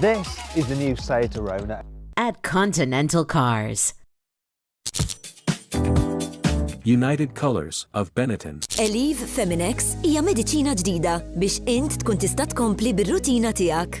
This is the new Seat Arona. At Continental Cars. United Colors of Benetton. Eliv Feminex hija mediċina ġdida biex int tkun tista' tkompli bir-rutina tiegħek.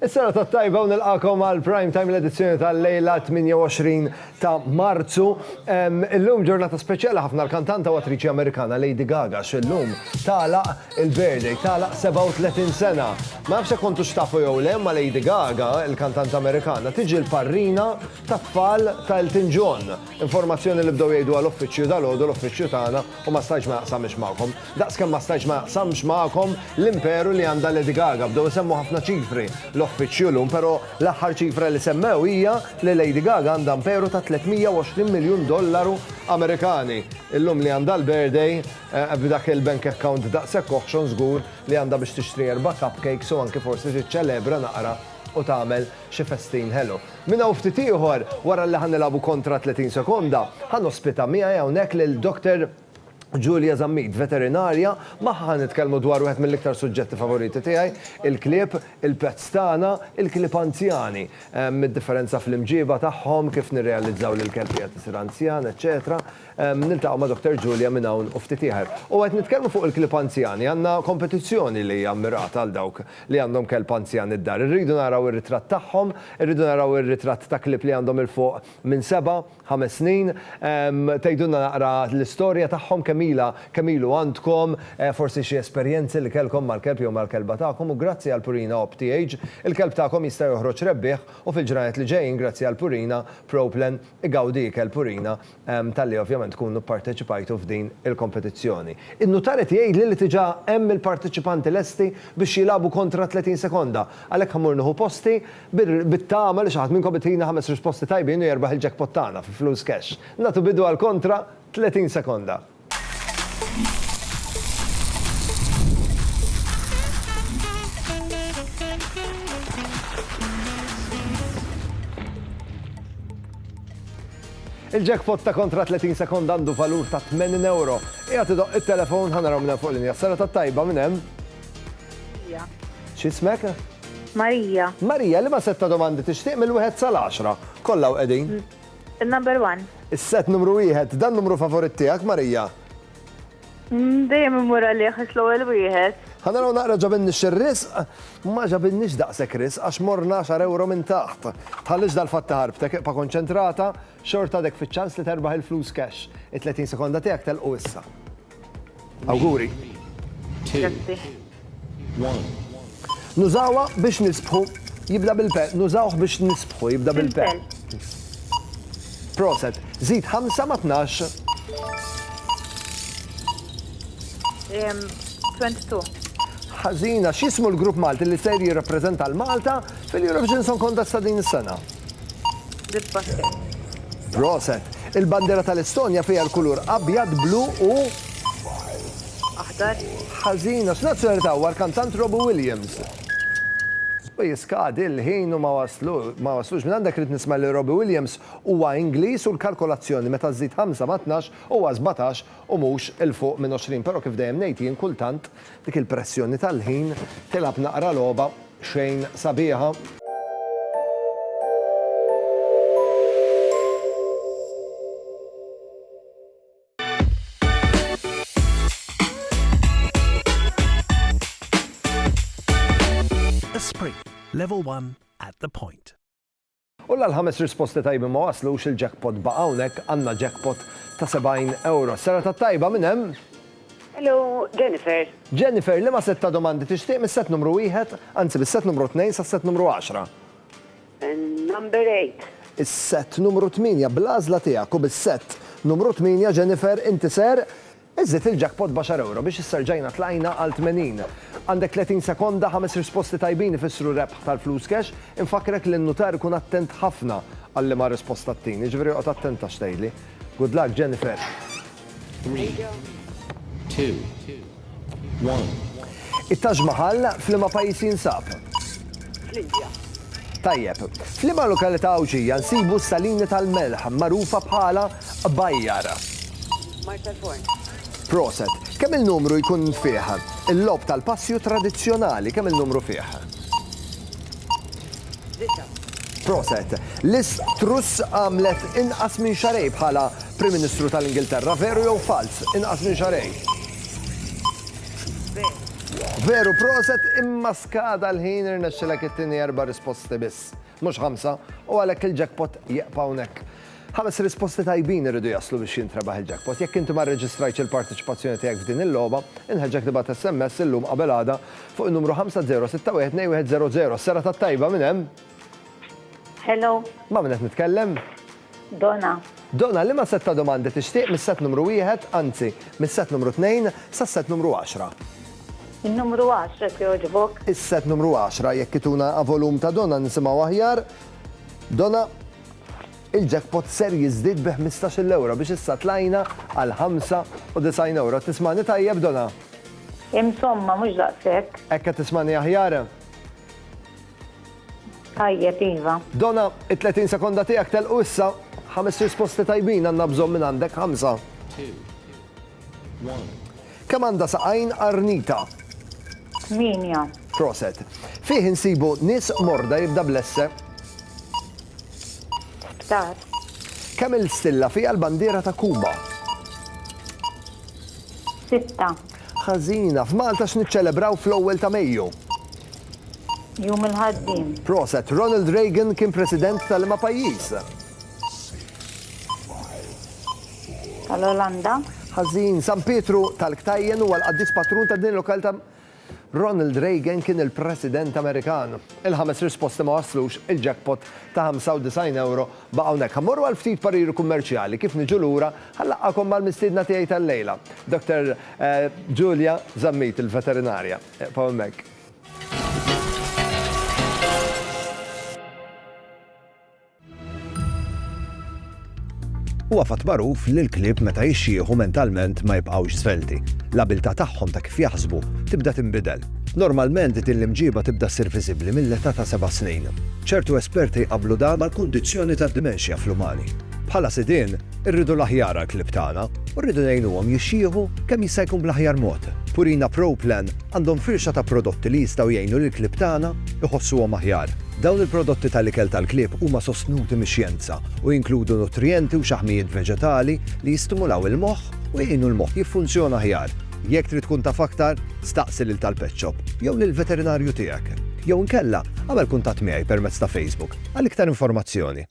Is-serata t-tajba u nilqakom għal Prime Time l-edizzjoni tal-lejla 28 ta' Marzu. Illum ġurnata speċjali ħafna l-kantanta u attriċi Amerikana Lady Gaga x'illum tala il-birthday tala 37 sena. Ma nafx kontu xtafu jew le ma Lady Gaga, il-kantanta Amerikana, tiġi l-parrina tat-tfal ta' Elton John. Informazzjoni li bdew jgħidu għal uffiċċju dal-għodu l-uffiċċju tagħna U ma stajtx ma jaqsamhiex magħkom. Daqs kemm ma stajtx ma jaqsamx magħkom l-imperu li għandha Lady Gaga. Bdew isemmu ħafna ċifri l-offiċju llum, però l-aħħar ċifra li semmew hija li Lady Gaga għandha imperu ta' 320 miljun dollaru Amerikani. Illum li għandha l-birthday, b'dak il-bank account daqshekk oħxon żgur li għandha biex tixtri erba' cupcakes u anki forsi tiċċelebra naqra u tagħmel xi festin ħelu. Minn hawn ftit ieħor, wara li ħa nilagħbu kontra 30 sekonda, ħa nospita miegħi hawnhekk lil Dr. Julia Zammit, veterinarja, magħha ħa nitkellmu dwar wieħed mill-iktar suġġetti favoriti tiegħi, il-klieb, il-pets tagħna, il-klieb anzjani, id-differenza fl-imġieba tagħhom, kif nirrealizzaw li l-kelb qiegħed isir anzjan, eċċetera Niltaqgħu ma' Dr. Julia minn hawn u ftit ieħer. U qed nitkellmu fuq il-klieb anzjani, għandna kompetizzjoni li hija mmirata għal dawk li għandhom kelb anzjan id-dar. Irridu naraw ir-ritratt tagħhom, irridu naraw ir-ritratt ta' klieb li għandhom 'il fuq minn seba', ħames snin. Tgħidulna naqra l-istorja tagħhom, kemm ilha, kemm ilu għandkom, forsi xi esperjenzi li kellkom mal-kelb jew mal-kelba tagħkom u grazzi għal Purina OPTH, il-kelb tagħkom jista' joħroġ rebbieħ u fil-ġranet li ġejjin grazzi għal Purina, Pro-Plan, igawdi ikel Purina talli ovvjament tkunu pparteċipajtu f'din il-kompetizzjoni. In-nutar qed jgħidli li diġà hemm il-parteċipanti lesti biex jilagħbu kontra 30 sekonda, għalhekk ħammur nieħu posti bit-tama li xi ħadd minnkom itina ħames risposti tajbin u jerbaħ il-jackpot tagħna fi flus cash. Nagħtu bidu għall-kontra 30 sekonda. Il-jackpot ta' kontra 30 sekond għandu valur ta' 80 euro. Ija tidoq il-telefon ħanaraw minna fuq l-inja. Sara ta' tajba minn hemm. X'ismek? Marija. Marija, li ma setta domandi tixtieq mill-wieħed sal-10. Kollha qegħdin. Il-number one. Is-set numru wieħed. Dan numru favorit tiegħek, Marija? Dejjem immur għalih għax l-ewwel wieħed. Ħa naraw naqra ġabinniex ir-risq, ma ġabinniex daqshekk risq għax morna 10 ewro minn taħt. Tħallix dal-fatt iħarbtek, ibqa' konċentrata, xorta għadek fiċ-ċans li terbaħ il-flus cash. It-30 sekonda tiegħek telqu issa. Awguri. Grazzi. Nużawha biex nisbħu jibda bil-pe. Nużawh biex nisbħu jibda bil-pe. Proset. Zid 5 ma 12. 22. Ħażina, x'ismu l-grupp Malti li ser jirrappreżenta l-Malta Fil-Eurovision Song Contest ta' din is-sena. Proset. Il-bandera tal-Estonja fiha l-kulur abjad, blu u Aħdar. ħażina. X'nazzjonalità huwa l-kantant Robbie Williams? U jiskadi l-ħin u ma waslu ma waslux minn għandek rrid nisma' li Robbie Williams huwa Ingliż u l-kalkolazzjoni meta żżid ħamsa ma' tnax huwa sbatax u mhux 'il fuq minn għoxrin però kif dejjem ngħid jien kultant Dik il-pressjoni tal-ħin tilgħab naqra logħba xejn sabiħa. Esprit, level one at the point. U la l-ħames risposti tajbin ma waslux, il-jackpot baqa' hawnhekk, għandna jackpot ta' 70 ewro. Serata t-tajba, min hemm? Hello, Jennifer. Jennifer, liema sett ta' domandi tixtieq mis-sett numru wieħed, anzi mis-sett numru tnejn sas-sett numru għaxra? Number eight. Is-sett numru tmienja, bl-għażla tiegħek u bis-sett numru tmienja, Jennifer, inti ser Żid il-jackpot b'għaxar ewro biex issa rġajna tlajna għal tmenin. Għandek tletin sekonda, ħames risposti tajbin ifissru rebħ tal-flus cash. Infakkrek li n-nutar ikun attent ħafna għal liema risposta ttin, jiġifieri oqgħod attenta x'tgħidli. Good luck, Jennifer! Three, two, one. It-Taj Mahal f'liema pajjiż jinsab? Fl-Indja. Tajjeb. F'liema lokalità Għawdxija nsibu s-salini tal-melħ magħrufa bħala Bajjar. Mart tal-forn. Proset. Kemm il-numru jkun fih? Il-logħob tal-passju tradizzjonali kemm il-numru fih? Disa'. Proset. Liz Truss għamlet inqas minn xarej bħala Prim Ministru tal-Ingilterra, veru jew falz? Inqas minn xarej. Veru. Veru, proset, imma skada l-ħin irnexxilek it-tieni erba' risposti biss, mhux ħamsa, u għalhekk il-jackpot jieqpa hawnhekk. Ħames risposti tajbin iridu jaslu biex jintrebaħ il-jackpot. Jekk inti ma rreġistrajtx il-parteċipazzjoni tiegħek f'din il-logħba, inħeġġek tibgħat SMS illum qabel għada fuq in-numru 50612100. Sserata t-tajba, min hemm? Hello. Ma' min qed nitkellem? Dona. Dona, liema sett ta' domandi tixtieq mis-sett numru wieħed, anzi, mis-sett numru tnejn sas-sett numru għaxra? In-numru għaxra jekk jogħġbok. Is-sett numru għaxra, jekk ituna volum ta' Dona nisimgħu aħjar. Dona. Il-jackpot ser jiżdied bi ħmistax-il ewro biex issa tlajna għal ħamsa u disgħin ewro. Qed tismagħni tajjeb, Dona? Insomma, mhux daqshekk. Hekk qed tismagħni aħjar? Tajjeb, iva. Dona, it-tletin sekonda tiegħek telqu issa. Ħames risposti tajbin għandna bżonn mingħandek, ħamsa. Kemm għandha saqajn qarnita? Tmienja. Proset. Fih insibu nies morda jibda bl-esse. Sptar. Kemm-il stilla fiha l-bandiera ta' Kuba? Sitta. Ħażina. F'Malta x'niċċelebraw fl-ewwel ta' Mejju? Jum il-Ħaddiem. Proset. Ronald Reagan kien President ta' liema pajjiż? tal-Olanda. Ħażin, San Pietru tal-Ktajjen huwa l-qaddis patrun ta' din il-lokalità. Ronald Reagan kien il-President Amerikan. Il-ħames risposti ma waslux, il-jackpot ta' 95 ewro baqa' hawnhekk. Ħa mmorru għal ftit pariri kummerċjali, kif niġu lura ħa nlaqqagħkom mal-mistiedna tiegħi tal-lejla, Dr. Julia Zammit, il-veterinarja. Eqfgħu hemmhekk. Huwa fatt magħruf li l-klieb meta jixjieħu mentalment ma jibqgħux żvelti. L-abiltà tagħhom ta' kif jaħsbu tibda tinbidel. Normalment din l-imġiba tibda ssir viżibbli mill-età ta' seba' snin. Ċertu esperti jqabblu dan mal-kundizzjoni tad-dimenxja fl-umani. Bħala sidien, Irridu l-aħjar għall-klieb tagħna u rridu ngħinuhom jixjieħu kemm jista' jkun bl-aħjar mod. Purina Pro Plan għandhom firxa ta' prodotti li jistgħu jgħinu lill-klieb tagħna jħossuhom aħjar. Dawn il-prodotti tal-ikel tal-klieb huma sostnuti mix-xjenza u jinkludu nutrijenti u xaħmijiet veġetali li jistimulaw il-moħħ u jgħinu l-moħħ jiffunzjona aħjar. Jekk trid tkun taf aktar, staqsi lil tal-pet shop jew lill-veterinarju tiegħek. Jew inkella, agħmel kuntatt miegħi permezz ta' Facebook għal iktar informazzjoni.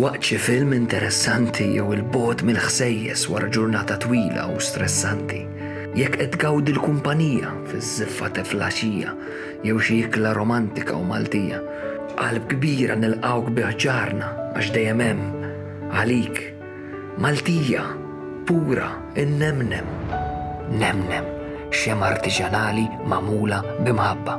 Waqt xi film interessanti jew il-bogħod mill-ħsejjes wara ġurnata twila u stressanti, jekk qed tgawdi l-kumpanija fiż-żiffa ta' flaxija jew xi ikla romantika u Maltija, b'qalb kbira nilqgħuk bi ħġarna għax dejjem hemm, għalik, Maltija, pura, innemnem. Nemnem, xemgħa artiġanali magħmula bi mħabba.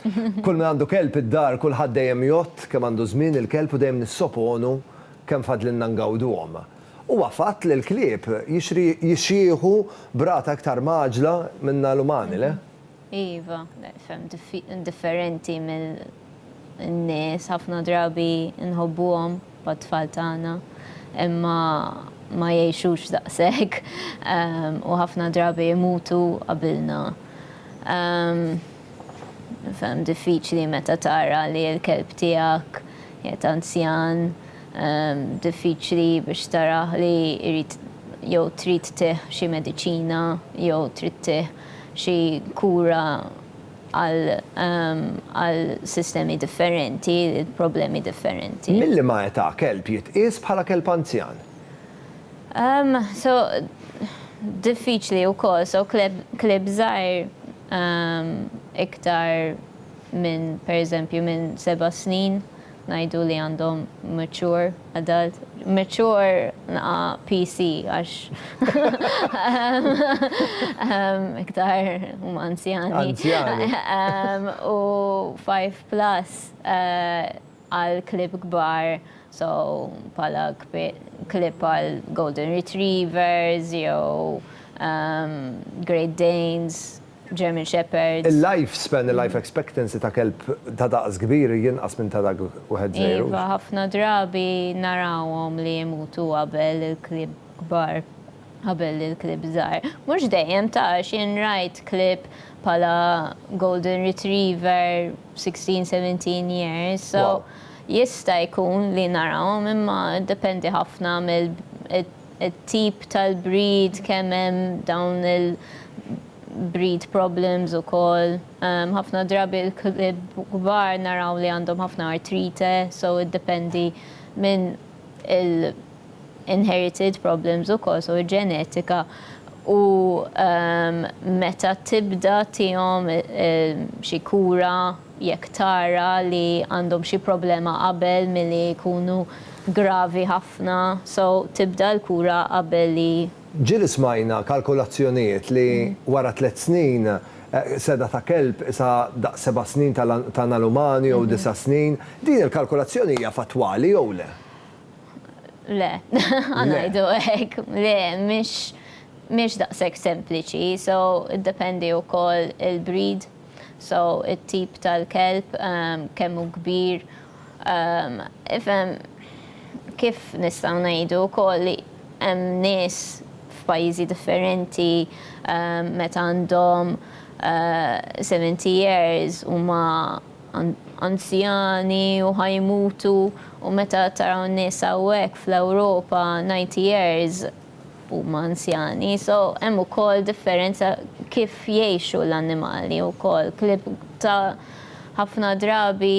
Kull min għandu kelb id-dar kulħadd dejjem jgħodd kemm għandu żmien il-kelb u dejjem nissoponu kemm fadlilna ngawduhom. Huwa fatt li l-klieb jixjieħu b'rata iktar mgħaġġla minna l-umani, le? Iva, ferm differenti mill-nies, ħafna drabi nħobbuhom bħat-tfal tagħna imma ma jgħixux daqshekk u ħafna drabi jmutu qabilna. Ferm diffiċli meta tara li l-kelb tiegħek qiegħed anzjan, diffiċli biex tarah li jrid jew trid tih xi mediċina jew trid tih xi kura għal sistemi differenti, problemi differenti. Mil-liema età kelb jitqies bħala kelb anzjan? So diffiċli wkoll, so kleb żgħir, iktar minn pereżempju minn seba' snin ngħidu li għandhom mature adult, mature naqa' PC għax iktar huma anzjani. Anzjani. U five plus. għal klieb kbar so bħala klieb bħal Golden Retrievers jew Great Danes, German Shepherds. Il-life span, il-life expectancy ta' kelb ta' daqs kbir jinqas minn ta' dak wieħed żgħir. Iva, ħafna drabi narawhom li jmutu qabel il-klieb kbar. Qabel il-klieb żgħar, mhux dejjem ta' x'ien rajt klieb bħala golden retriever, sixteen, seventeen years, so jista' jkun li narahom imma jiddependi ħafna mit-tip tal-breed, kemm hemm dawn il-breed problems ukoll. Ħafna drabi l-klieb kbar naraw li għandhom ħafna artrite, so jiddependi minn il-, inherited problems ukoll, so ġenetika u meta tibda tihom xi kura jekk tara li għandhom xi problema qabel milli jkunu gravi ħafna, so tibda l-kura qabel li. Ġieli smajna kalkulazzjonijiet li wara tliet snin seda ta' kelb qisha daqs seba' snin ta' tal-umani jew disa' snin. Din il-kalkulazzjoni hija fattwali jew le? Le, għanajdu hekk, le, mhix mhix daqshekk sempliċi, so iddependi wkoll il-breed, so it-tip tal-kelb ehm, kemm hu kbir. Ehm, ifhem kif nistgħu ngħidu wkoll li hemm nies f'pajjiżi differenti ehm, meta għandhom 70 eh, years huma anzjani u ħa jmutu u meta taraw n-nies hawnhekk fl-Ewropa 90 years huma anzjani so hemm ukoll differenza kif jgħixu l-annimali wkoll klieb ta' ħafna drabi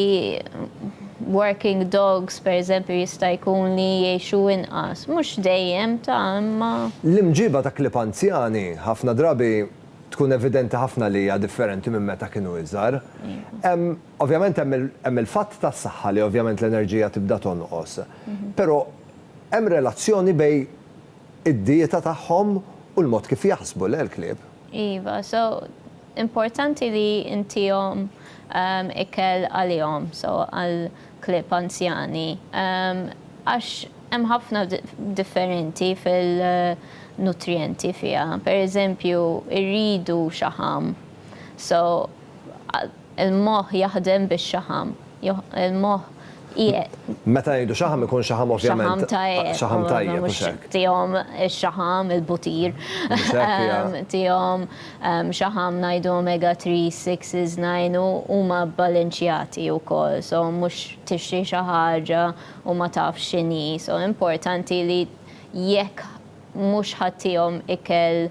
working dogs pereżempju jista' jkun li jgħixu inqas mhux dejjem ta' imma. L-imġiba ta' klieb anzjani ħafna drabi tkun evidenti ħafna li hija differenti minn meta kienu iżgħar. Hemm, ovvjament hemm il, hemm il-fatt tas-saħħa li ovvjament l-enerġija tibda tonqos. Però hemm relazzjoni bej id-dieta tagħhom u l-mod kif jaħsbu, le l-klieb? Iva, so importanti li ntihom ikel għalihom, so għal Klieb anzjani, għax hemm ħafna differenti fil-nutrijenti fiha. Per eżempju, irridu xaħam. So, il-moħħ jaħdem bix-xaħam. Il-moħħ qiegħed. Meta ngħidu xaħam ikun xaħam ovvjament. Xaħam tajjeb. Tihom ix-xaħam, il-butir. Tihom Xaħam ngħidu omega three, six, nine u huma bbalenċjati wkoll so mhux tixtri xi ħaġa u ma tafx x'inhi so importanti li jekk mhux ħa tihom ikel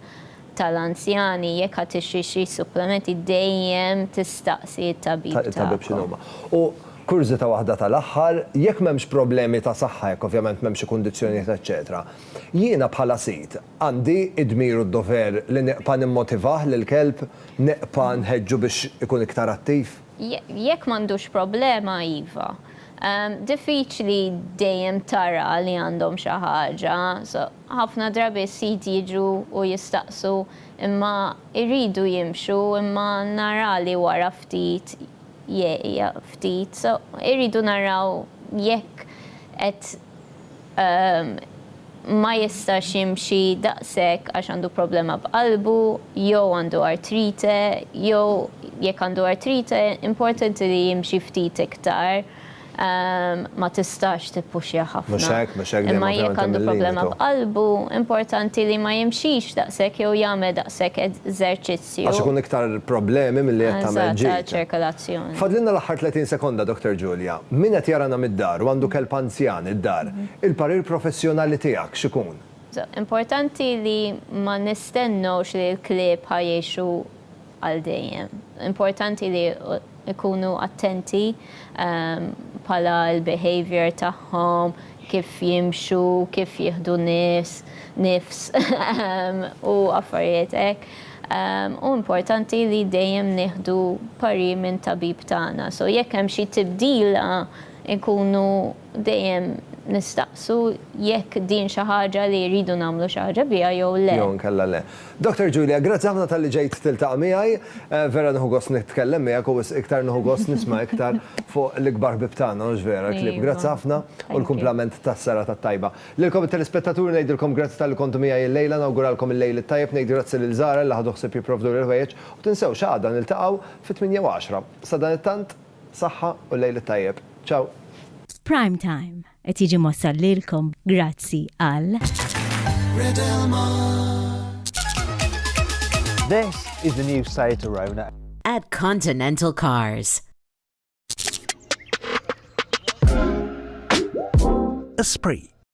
tal-anzjani jekk ħa tixtri xi supplementi dejjem tistaqsi t-tabib tagħkom. It-tabib x'inhuma. U kurżità waħda tal-aħħar, jekk m'hemmx problemi ta' saħħa jekk ovvjament m'hemmx xi kundizzjonijiet eċċetera, jiena bħala sid, Għandi d-dmir u d-dover li neqpa' nimmotivah lill-kelb, neqpa' nħeġġu biex ikun iktar attiv? Jekk m'għandux problema, iva. Diffiċli dejjem tara li għandhom xi ħaġa. Ħafna drabi s-sid jiġu u jistaqsu imma jridu jimxu imma nara li wara ftit jieqaf ftit. Irridu naraw jekk qed ma jistax jimxi daqshekk għax għandu problema b'qalbu jew għandu artrite jew jekk għandu artrite importanti li jimxi ftit iktar ma tistax tippuxja ħafna. Imma jekk għandu problema b'qalbu importanti li ma jimxix daqshekk jew jagħmel daqshekk eżerċizzju. Għax ikun iktar problemi milli qed tagħmel ġid. Eżatt, għaċ-ċirkolazzjoni. Fadlilna l-aħħar 30 sekonda, Dr. Julia. Min qed jarana mid-dar u għandu kelb anzjan id-dar, il-parir professjonali tiegħek x'ikun? Importanti li ma nistennewx li l-klieb ħa jgħixu għal dejjem. Importanti li Ikunu attenti bħala l-behaviour tagħhom, kif jimxu, kif jieħdu nies, nifs u affarijiet hekk. U importanti li dejjem nieħdu parir minn tabib tagħna. So jekk hemm xi tibdila nkunu Dejjem nistaqsu jekk din xi ħaġa li rridu nagħmlu xi ħaġa biha jew le. Jew inkella le. Doctor Julia, grazzi ħafna talli ġejt tiltaqa' miegħi. Vera nieħu gost nitkellem miegħek u wisq iktar nieħu gost nisma' iktar fuq l-ikbar ħbieb tagħna, mhux vera, Clib. Grazzi ħafna u l-kumplament tas-serata t-tajba. Lilkom it-telespettaturi ngħidilkom grazzi talli kontu miegħi l-lejla, nawguralkom il-lejl it-tajjeb, ngħid grazzi lil Zahra li ħadu ħsieb jipprovduli l-ħwejjeġ u tinsewx għada niltaqgħu fit-tmienja u għaxra. Sadanittant, Saħħa u l-lejl it-tajjeb. Ciao. Prime Time qed jiġi mwassal lilkom grazzi għal. Red Elmar. This is the new Seat Arona. At Continental Cars. Esprit.